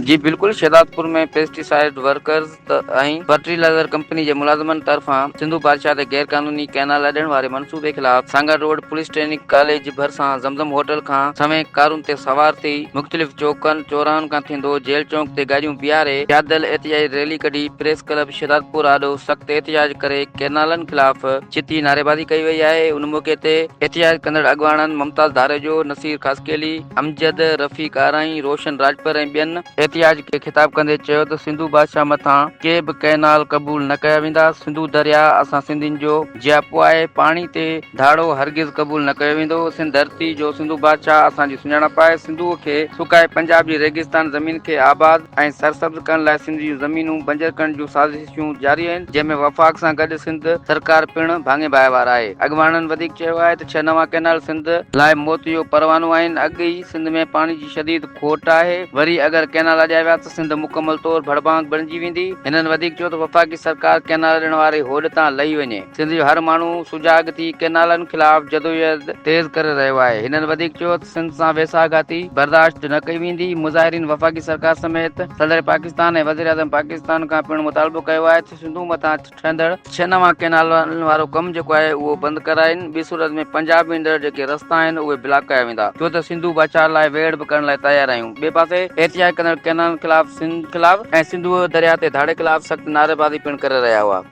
جي بلڪل Shahdadpur ۾ pesticide workers ۽ fertiliser company جي ملازمن طرفان سنڌو بادشاهه تي غير قانوني ڪئنال اڏڻ واري منصوبي خلاف Sanghar road police training college ڀرسان زمزم هوٽل کان سوين ڪارن تي سوار ٿي مختلف چوڪن چوراهن کان ٿيندو جيل چونڪ تي گاڏيون بيهاري پيادل احتجاجي ريلي ڪڍي پريس ڪلب شهدادپور آڏو سخت احتجاج ڪري ڪئنالن خلاف ڇتي نعريبازي ڪئي وئي آهي ان موقعي تي احتجاج ڪندڙ اڳواڻن ممتاز ڌاريجو، نصير خاصخيلي، امجد، رفيق آرائين، روشن راڄپر ۽ ٻين. احتجاج کي خطاب ڪندي چيو ته سنڌو بادشاهه مٿان ڪي به ڪئنال قبول نه ڪيا ويندا، سنڌو درياء اسان سنڌين جو جياپو آهي، پاڻي تي ڌاڙو هرگز قبول نه ڪيو ويندو، سنڌ ڌرتي جو سنڌو بادشاهه اسان جي سڃاڻپ آهي، سنڌوء کي سڪائي پنجاب جي ريگستان زمين کي آباد ۽ سرسبز ڪرڻ لاء سنڌ جون زمينون بنجر ڪرڻ جون سازشون. ڪوششون جاري آهن، جنهن ۾ وفاق سان گڏ سنڌ سرڪار پڻ ڀاڱي ڀائيوار آهي. اڳواڻن وڌيڪ چيو آهي ته ڇهه نوان ڪئنال سنڌ لاء موت جو پروانو آهن، اڳ ئي سنڌ ۾ پاڻي جي شديد کوٽ آهي، وري اگر ڪئنال اڏيا ويا ته سنڌ مڪمل طور ڀڙڀانگ بڻجي ويندي. هنن وڌيڪ چيو ته وفاقي سرڪار ڪئنال اڏڻ واري هوڏ تان لهي وڃي. سنڌ جو هر ماڻهو سجاڳ ٿي ڪئنالن خلاف جدوجهد تيز ڪري رهيو آهي، هنن وڌيڪ چيو ته سنڌ سان ويساهه گهاتي برداشت نه ڪئي ويندي، مظاهرين وفاقي سرڪار سميت صدر پاڪستان ۽ وزيراعظم پاڪستان کان پڻ مطالبو ڪيو آهي ته سنڌو مٿان ٺهندڙ ڇهه نوان ڪئنالن وارو ڪم جيڪو آهي اهو بند ڪرائين، ٻي صورت ۾ پنجاب ويندڙ جيڪي رستا آهن اهي بلاڪ ڪيا ويندا، چيو ته سنڌو ڀاڇاء لاء ويڙهه به ڪرڻ لاء تيار آهيون، ٻئي پاسي احتجاج ڪندڙ ڪئنالن خلاف سنڌ خلاف ۽ سنڌوء درياهه تي ڌاڙي خلاف سخت نعريبازي پڻ ڪري رهيا هئا.